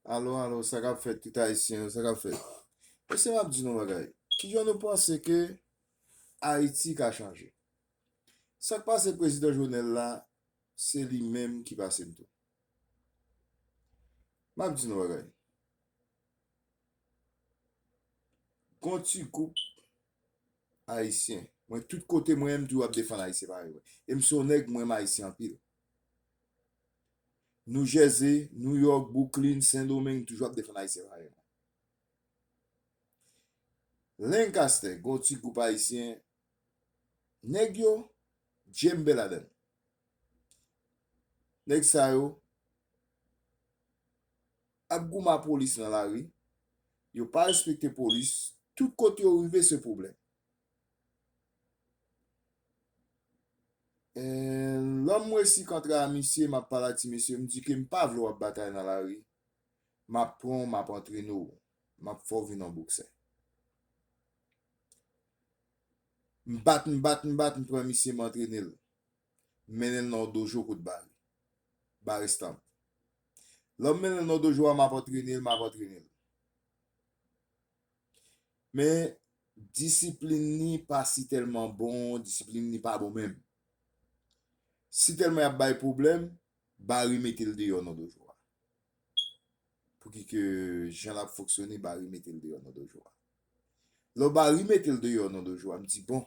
Alo alo, sa kap fèt tout ayisyen yo, sa kap fèt? Mesye map di nou bagay, ki jan nou panse ke Ayiti ka chanje? Sak pase prezidan Jovenel la, se li menm ki pase m tou. Map di nou bagay, gon ti gwoup Ayisyen mwen tout kote mwen m toujou ap defann ayisyen parèy mwen e m se yon nèg m renmen ayisyen anpil New Jersey, New York, Brooklyn, Sen Domeng m toujou ap defann ayisyen parèy mwen Lancaster gen yon ti gwoup ayisyen nèg yo djembe ladann nèg sa yo ap goumen a polis nan lari, yo pa respekte polis, tout kote yo rive se pwoblèm. Lò m resi kontra a misye, m ap pale ak ti mesye, m di ke m pa vle w ap batay nan lari, m ap pran w m ap antrene w, m ap fè w vin yon boksè. M bat, m bat, m bat, m pran misye m antrene l, m mennen l nan yon dojo kout bal, Baristan. Lè m mennen l nan dojo a, m ap antrene l, m ap antrene l. Men, disiplin li pa si tèlman bon, disiplin li pa bon menm. Si tèlman y ap bay pwoblèm, Barry mete l deyò nan dojo a. Pouki ke jan l ap fonksyone, Barry mete l deyò nan dojo a. Lè Barry mete l deyò nan dojo a, m di, bon,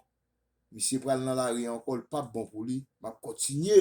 misye pral nan lari ankò, l pap bon pou li, m ap kontinye.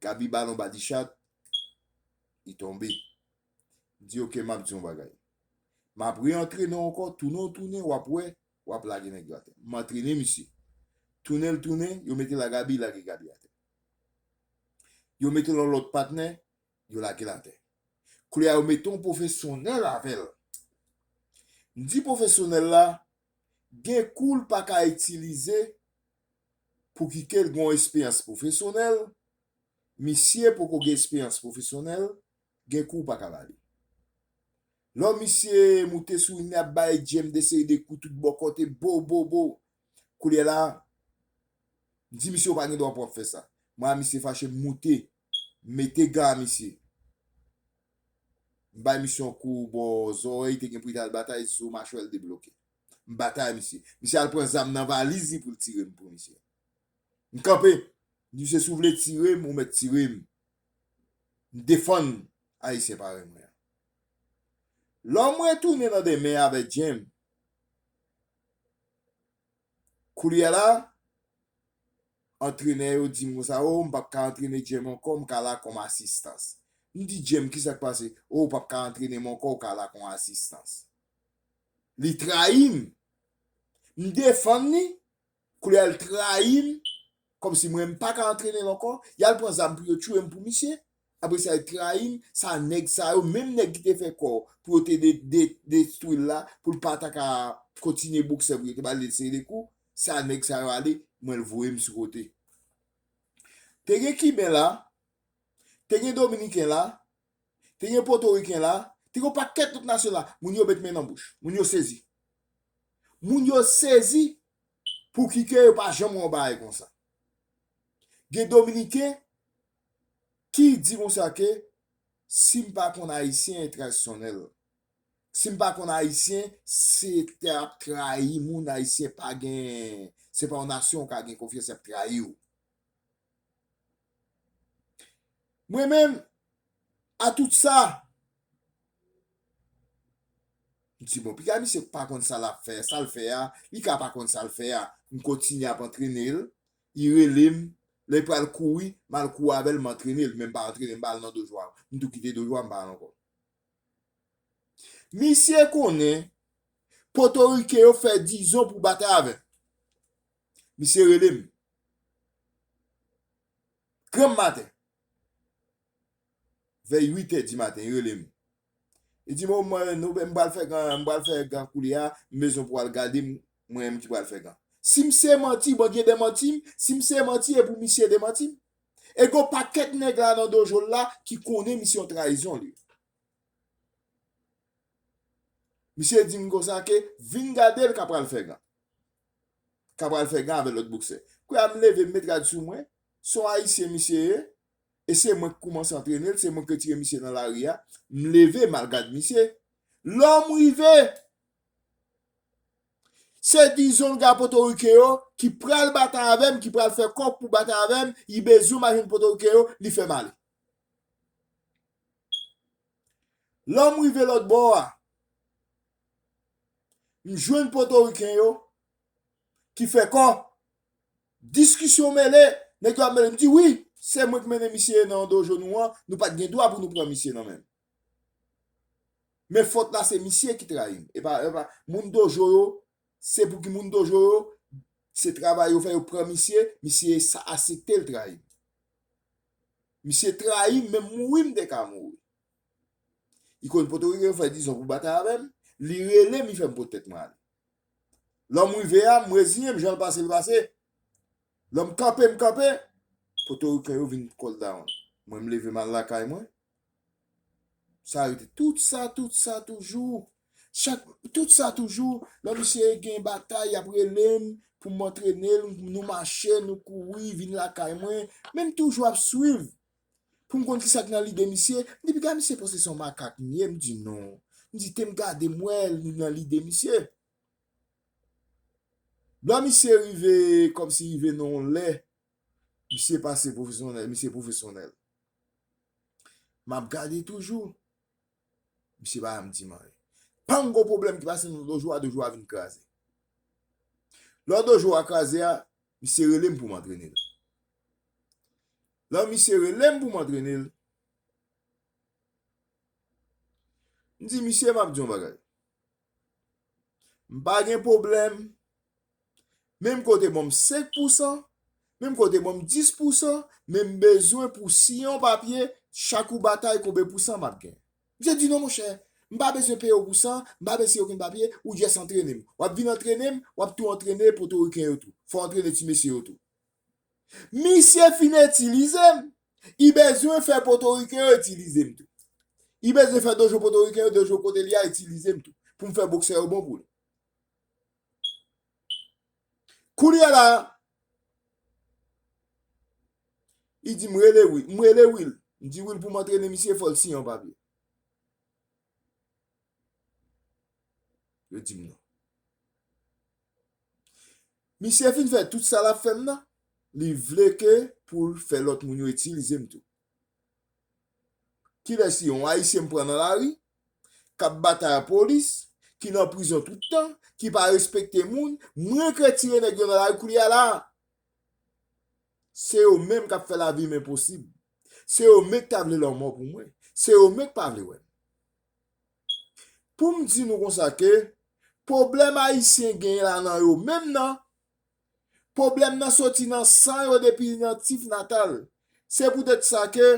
Gaby balon ba Dichat, li tonbe. M di ok map di yon bagay. Map re antrene w ankò, tounen w tounen wap wè, wap lage nèg yo atè. M antrene misye. Tounen l tounen, yo mete l a Gaby, lage Gaby atè. Yo mete l yon lòt patnè, yo lage l atè. Koulye a yo mete yon pwofesyonèl avè l. M di pwofesyonèl la, gen kou l paka itilize Pouki kel gen yon esperyans pwofesyonèl, misye poko gen esperyans pwofesyonèl, gen kou w pa ka ba li. Lò misye moute sou ring li ap bay Djem de seri de kou tout bon kote, bo bo bo. Koulye la, m di misye ou pa gen dwa pou w ap fè sa. Mwen a misye fache m moute, m mete gan a misye. M bay misye yon kou bò zòrèy, te gen pou li t al batay, zo machwè l debloke. M batay misye. Misye al pran zam nan valiz li pou l tire m pou misye. M kanpe. M di misye si w vle tire m ou mèt tire m. M defann Ayisyen parèy mwen an. Lò m retounen nan demen avè Djenm. Koulye la, antrenè yo di m konsa, o m pap ka antrene Djenm ankò, m ka la kòm asistans. M di Djenm kisa k pase? O ou pap ka antrene m ankò, ou ka la kon asistans. Li trayi m. M defann li, koulè l trayi m, kòmsi mwen m paka antrene l ankò, y al pran zam pou yo tchouye m pou misye, apre sa li trayi m, sa nèg sa yo, menm nèg ki te fè kò pou yo te destwi l la, pou l pa ta ka kontinye boksè pou yo te ba li seri de kou, sa nèg sa yo ale, mwen l voye m sou kote. Te gen kiben la, te gen dominiken la. te gen potoriken la, te gen yon pakèt lòt nasyon la, moun yo met men nan bouch, moun yo sezi. Moun yo sezi pou ki ke yo pa janm wè yon bagay konsa. Gen dominiken ki di konsa ke si m pa konn ayisyen e tradisyonèl, si m pa konn ayisyen se te ap trayi moun ayisyen pa gen, se pa yon nasyon ou ka gen konfyans y ap trayi ou. Mwen menm, a tout sa, m di bon, piga misye pa konn sa lap fè, sa l fè a, li ka pa konn sa l fè a, m kontinye ap antrene l, li rele m, lè li pral kouri, m al kouri avè l, m antrene l, men m pa antrene, m pa al nan dojo a, m tou kite dojo a, m pa al ankò. Misye konnen Potorike yo fè dizon pou batay avè m. Misye rele m. Granm maten. Vè 8 è di maten, li rele m. Li di m, o mwen nou m pral fè gan, m pral fè gan koulye a, m bezwen pou al gade m, mwen menm ki pral fè gan. Si m se manti, Bondye demanti m, si m se manti e pou misye demanti m. E gen yon pakèt nèg la nan dojo l la ki konnen misye yon trayizon li. Misye di m konsa ke vin gade l ka pral fè gan. ka pral fè gan avè lòt boksè. Kouy a m leve m met rad sou mwen, se yon ayisyen misye ye, e se mwen k koumanse antrene l, se mwen k retire misye nan lari a, m leve m al gad misye. Lò m rive, se dizon ga potorike yo ki pral batay avè m, ki pral fè kòk pou batay avè m, y bezwen m al jwenn potorike yo, li fè m ale. Lò m rive lòt bò a, M jwenn potoriken yo ki fè kò, diskisyon mele, nèg yo ap mele, m di wi, se mwen ki mennen misye nan yon dojo nou an, nou pat gen dwa pou nou pran misye nan men l. Men fot la se misye ki trayi m, e pa moun dojo yo, se pou ki moun dojo yo, se travay yo fè yo pran misye, misye asepte l trayi m. Misye trayi m, menm mouri m te ka mouri. Li konn potorike yo fè dizon pou batay avè m, li rele m li fè m pot tèt mwen ale. Lò m rive a, m reziyen m jan l pase l pase. Lò m kanpe m kanpe, potoriken yo vin call down. Mwen m leve m al lakay mwen. Sa rete tout sa tout sa toujou. Chak tout sa toujou lò misye gen batay y ap rele m pou m antrene l, nou mache nou kouri vin lakay mwen men m toujou ap swiv Pou m konn ki sa ki nan lide misye, m di piga misye panse se yon makak m ye, m di non. M di te m gade m wè li nan lide misye. Lò misye rive kòmsi rive nan yon lè, misye pase pwofesyonèl, misye pwofesyonèl. M ap gade toujou, misye pa janm di m anyen. Panm gwo pwoblèm ki pase nan dojo a, dojo a vin kraze. Lò dojo a kraze a, Misye rele m pou m antrene l. Lè misye rele m pou m antrene l, m di misye m ap di yon bagay. M pa gen pwoblèm, men m kote banm 5 pousan, men m kote banm 10 pousan, men m bezwen pou si yon papye, chak ou batay konbe pousan m ap gen. Misye di non monchè, m pa bezwen peye w pou sa, m pa bezwen siyen okenn papye, ou jès antrene m. W ap vin antrene m, w ap tou antrene potoriken yo tou. Fò w antrene ti mesye yo tou. Misye fin itilize m, i bezwen fè potoriken yo itilize m tou. I bezwen fè dojo potoriken yo, dojo kote li a itilize m tou, pou m fè boksè yo bon pou li. Kounye a la, li di m rele Wil. M rele Wil. M di Wil pou m antrene misye, fò l siyen yon papye. Yo di m non. Misye fin fè tout sa l ap fè m nan, li vle ke pou l fè lòt moun yo itilize m tou. Kilè se yon Ayisyen m pran nan lari, k ap batay a polis, ki nan prizon tout tan, ki pa respekte moun, m regrèt tire nèg yo nan lari koulye a la a. Se yo menm k ap fè lavi m enposib. Se yo menk ta vle lanmò pou mwen. Se yo menk pa vle wè m. Pou m di nou konsa ke pwoblèm Ayisyen genyen la nan yo menm nan. Pwoblèm nan soti nan san yo depi nan tit natal. Se poutèt sa ke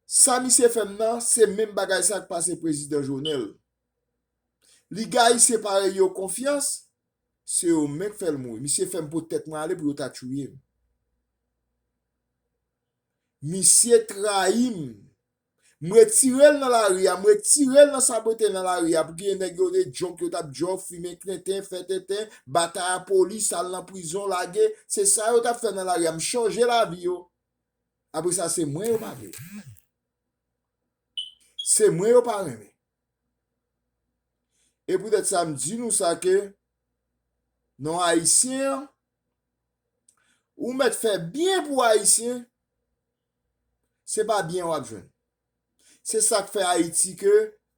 sa misye fè m nan se menm bagay sa k pase Prezidan Jovenel. Li gayisyen parèy yo konfyans, se yo menm k fè l mouri. Misye fè m pot tèt mwen ale pou yo ta touye m. Misye trayi m. M retire l nan lari a, m retire l nan sa mwen te nan lari a pou genyen nèg yo de jòk yo t ap jòk, fimen klenten, fè tenten, batay a polis, al nan prizon, lage, se sa yo t ap fè nan lari a, m chanje lavi yo. Apre sa se mwen yo pa vle. Se mwen yo pa renmen. E poutèt sa m di nou sa ke non Ayisyen an, ou mèt fè byen pou Ayisyen, Se pa byen wap jwenn. Se sak fè Ayiti ke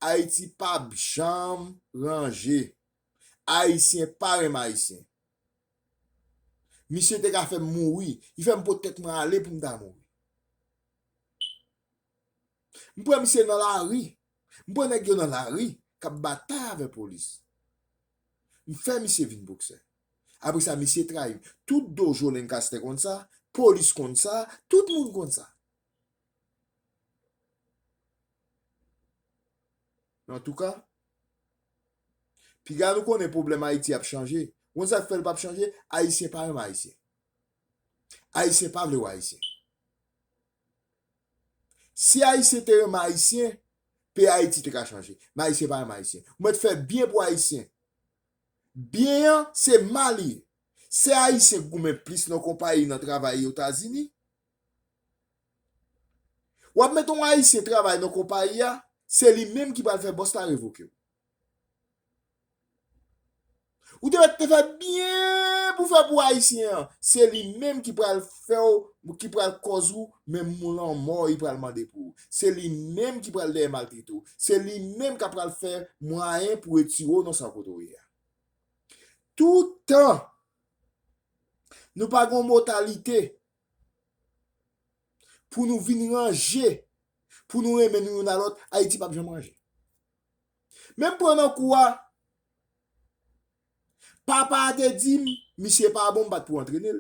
Ayiti pap janm ranje. Ayisyen pa renmen Ayisyen. Misye te ka fèm mouri. Li fèm pot tèt mwen ale poum ta mouri. M pran misye nan lari. M pran nèg yo nan lari k ap batay avè polis. M fè misye vin boksè. Apre sa misye trayi m. Tout dojo Lenkastè konn sa, polis konn sa, tout moun konn sa. Men antouka, piga nou konnen pwoblèm Ayiti ap chanje. Ou konn sa k fè l p ap chanje? Ayisyen pa renmen Ayisyen. Ayisyen pa vle wè Ayisyen. Si Ayisyen te renmen Ayisyen, peyi Ayiti te ka chanje. Men Ayisyen pa renmen Ayisyen. Ou mèt fè byen pou Ayisyen. Byen an, se mal li ye. Se Ayisyen k goumen plis nan konpayi, nan travay yo tazini. W ap mete yon Ayisyen travay nan konpayi a, se li menm ki pral fè bòs la revoke w. Ou te mèt te fè byen pou fè pou ayisyen an, se li menm ki pral fèw, ki pral kòz ou menm mou lanmò li pral mande pou ou, se li menm ki pral dèyè maltrete ou, se li menm kap pral fè mwayen pou retire ou nan sa kote ou ye a. Toutan nou pa gon motalite pou nou vin ranje, pou nou renmen nou youn a lòt, Ayiti pap janm ranje. Men pran nan kou a. Papa a te di m misye pa bon m pa t pou antrene l.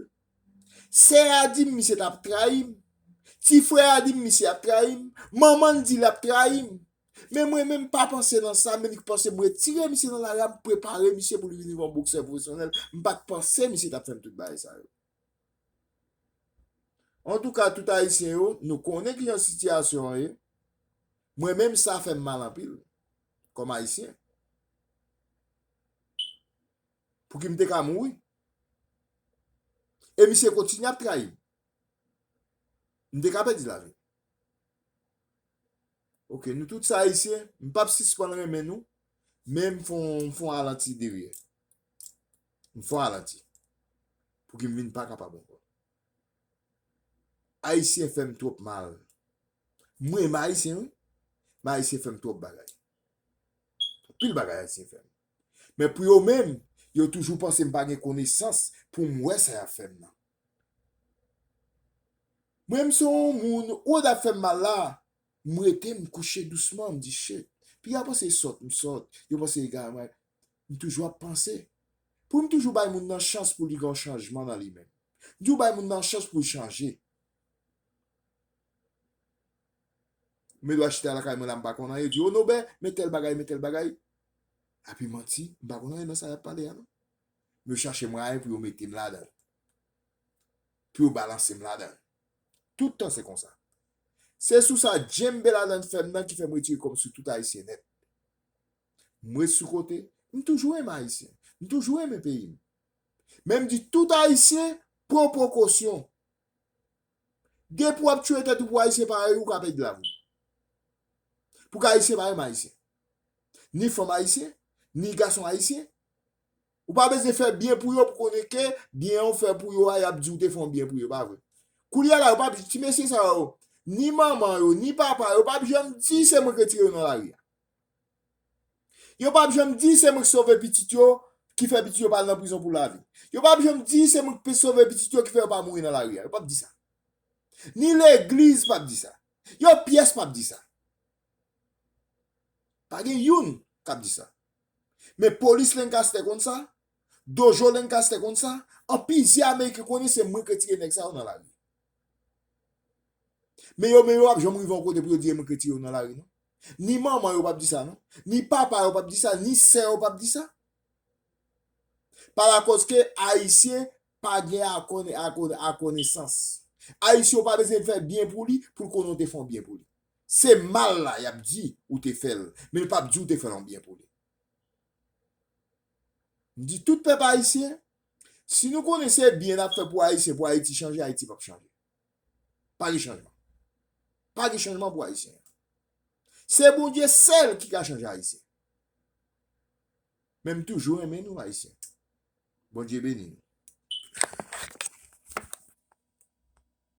Sè a di m misye t ap trayi m. Ti frè a di m misye ap trayi m. Manman l di l ap trayi m. Men mwen menm m pa panse nan sa men li k panse m retire misye nan lari a m prepare misye pou li vin yon boksè pwofesyonèl. M pa t panse misye t ap fè m tout bagay sa yo. An tou ka tout ayisyen yo, nou konnen ki jan sitiyasyon an ye. Mwen menm sa fè m mal anpil, kòm ayisyen. Pou ki m te ka mouri. E misye kontinye ap trayi m. M te ka pèdi lavi m. Ok, nou tout se ayisyen, m pap sispann renmen nou, men m fon alanti deryè. M fò alanti. Pouki m vin pa kapab ankò. Ayisyen fè m twòp mal. M renmen Ayisyen wi. Men Ayisyen fè m twòp bagay. Anpil bagay Ayisyen fè m. Men pou yo menm, yo toujou panse m pa gen konesans pou m wè sa y ap fè m nan. Mwen m se yon moun, wòd ap fè m mal la, m rete m kouche dousman, m di shit. Pi yo panse sòt m sòt, yo panse egare m egare. M toujou ap panse pou m toujou bay moun nan chans pou li gen yon chanjman nan li menm. M toujou bay moun nan chans pou l chanje. Mwen dwe chita lakay mwen la m pa konn anyen, yo di Onobè, men tèl bagay, men tèl bagay. Ape manti, m pa konn anyen nan sa y ap pale a non. Yo chache mwayen pou yo mete m ladan l. Pou yo balanse m ladan l. Tout tan se konsa. Se sou sa djenmbe ladan l fè m nan ki fè m retire kò m sou tout Ayisyen nèt. M ret sou kote, m toujou renmen Ayisyen, m toujou renmen peyi m. Men m di tout Ayisyen pran prekosyon. Depi w ap tiye tèt ou pou Ayisyen parèy ou ka pèdi lavi w. Pou ki Ayisyen pa renmen Ayisyen? Ni fanm Ayisyen, ni gason Ayisyen. Ou pa bezwen fè byen pou yo pou konnen ke byen an ou fè pou yo a y ap di ou te fè yon byen pou yo, pa vre? Koulye a la yo pa p, ti mesye sa yo, ni manman yo, ni papa yo pa p janm di se mwen ki retire yo nan lari a. Yo pap janm di se mwen ki sove pitit yo ki fè pitit yo pa al nan prizon pou lavi. Yo pap janm di se mwen ki sove pitit yo ki fè yo pa mouri nan lari a. Yo pap di sa. Ni legliz pap di sa. Yon pyès pap di sa. Pa gen youn k ap di sa. Men polis Lancaster konn sa, dojo Lancaster konn sa, an plizyè ameriken konnen se mwen ki retire nèg sa yo nan lari. Men yo men yo pap janm rive yon kote pou yo di e mwen ki retire yo nan lari non. Ni manman yo pap di sa non. Ni papa yo pap di sa, ni sè yo pap di sa. Pa lakòz ke Ayisyen pa gen akonesans. Ayisyen ou pa bezwen fè byen pou li, pou l konnen ou te fè yon byen pou li. Se mal la y ap di ou te fè l, men l pap di ou te fè yon byen pou li. M di tout pèp Ayisyen, si nou konnen se byen n ap fè pou Ayisyen pou Ayiti chanje, Ayiti pap chanje. Pa gen chanjman. Pa gen chanjman pou Ayisyen. Se Bondye sèl ki ka chanje Ayisyen. Men m toujou renmen nou Ayisyen. Bondye beni nou.